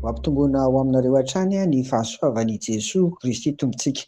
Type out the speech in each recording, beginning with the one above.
Ho ampitomboina ho aminareo hatrany ny fahasoavan' i Jesoa Kristy Tompontsika.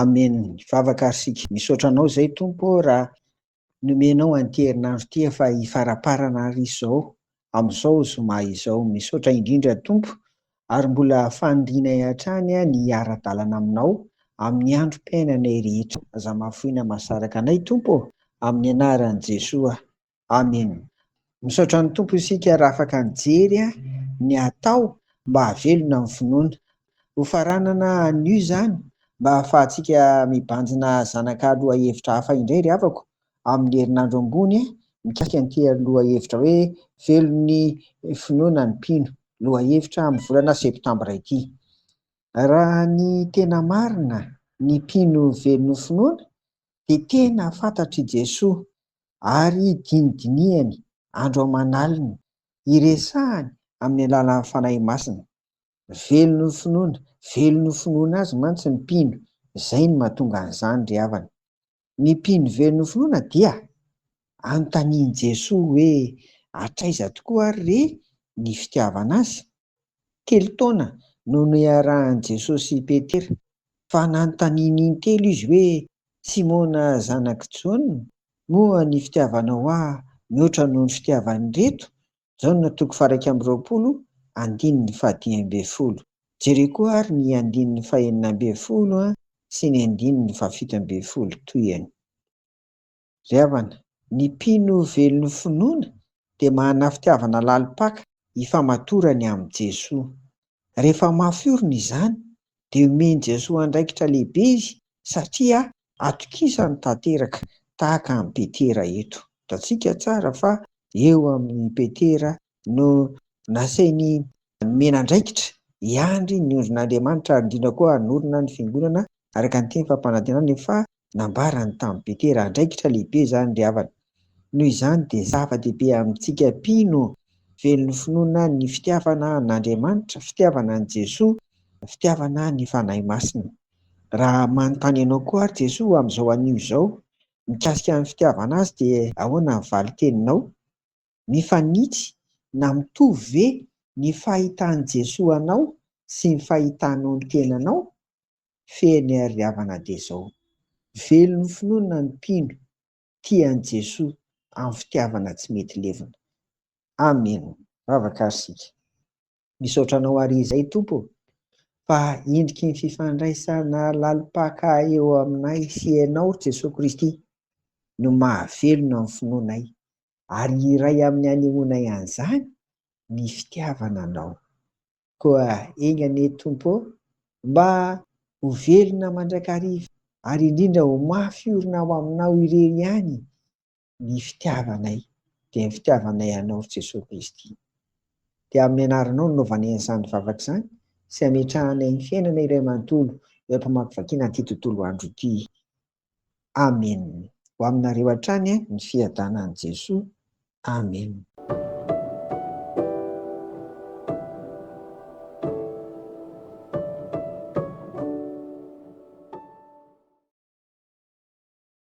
Amen. Vavaka ary sika. Misaotra anao izay Tompo raha nomenao an'ity herinandro ity efa hifaraparana ary izao. amin'izao zoma izao. Misaotra indrindra Tompo ary mbola fanirianay hatrany ny hiara-dalana aminao amin'ny androm-piainanay rehetra. Aza mahafoina mahasaraka anay Tompo ô! Amin'ny anaran'i Jesoa. Amena. Misaotra an'i Tompo isika raha afaka nijery ny atao mba hahavelona ny finoana. Ho faranana anio izany mba hahafahantsika mibanjina zanaka lohahevitra hafa indray ry havako. amin'ny herinandro ambony mikasika ny te lohahevitra hoe velon'ny finoana ny mpino, lohahevitra amin'ny volana septambra ity. Raha ny tena marina, ny mpino velon'ny finoana dia tena fantatr'i Jesoa ary dinidinihany andro aman'alina, iresahany amin'ny alalan'ny Fanahy Masina. Velon'ny finoana, velon'ny finoana Azy mantsy ny mpino, izay no mahatonga an'izany ry havana. Ny mpino very nofinoana dia anontanian'i Jesoa hoe hatraiza tokoa ary re ny fitiavana Azy? Telo taona no niarahan'i Jesoa sy Petera, fa nanontaniany intelo Izy hoe, Simona zanak'i Jaona, moa ny fitiavanao Ahy mihoatra noho ny fitiavan'ireto Jaona toko faha-iraika amby roapolo, andininy fahadimy ambin'ny folo. Jereo koa àry ny andininy fahenina ambin'ny folo sy ny andininy fahafito ambin'ny folo tohiany. Ry havana, ny mpino velon'ny finoana dia manana fitiavana lalim-paka hifamatorany amin'i Jesoa. Rehefa mafy orina izany, dia omen'i Jesoa andraikitra lehibe izy satria atokisany tanteraka, tahaka an'i Petera eto. Hitantsika tsara fa eo amin'i Petera no nasainy nomena andraikitra hiandry ny ondrin'Andriamanitra ary indrindra koa hanorina ny Fiangonana araka ny teny fampanantenana efa nambarany tamin'i Petera, andraikitra lehibe izany ry havana. Noho izany dia zava-dehibe amintsika mpino velon'ny finoana ny fitiavana an'Andriamanitra, fitiavana an'i Jesoa, fitiavana ny Fanahy Masina. Raha manontany anao koa àry Jesoa amin'izao anio izao mikasika ny fitiavana Azy dia ahoana ny valin-teninao? Mifanitsy na mitovy ve ny fahitan'i Jesoa anao sy ny fahitanao ny tenanao? fehiny ary havana dia izao, velon'ny finoana ny mpino tia an'i Jesoa amin'ny fitiavana tsy mety levona. Amen! Vavaka ary isika. Misaotra Anao àry izay, Tompo ô, fa endriky ny fifandraisana lalim-paka eo aminay sy Ianao, ry Jesoa Kristy, no mahavelona ny finoanay, ary iray amin'ny hanehoanay an'izany ny fitiavana Anao. Koa enga anie Tompo ô, mba ho velona mandrakariva, ary indrindra ho mafy orina ao Aminao irery ihany ny fitiavanay, dia ny fitiavanay Anao ry Jesoa Kristy. Dia amin'ny Anaranao no novanay an'izany vavaka izany sy ametrahanay ny fiainana iray manontolo eo am-pamakivakiana an'ity tontolo andro ity. Amen ho aminareo hatrany ny fiadanan'i Jesoa Amen.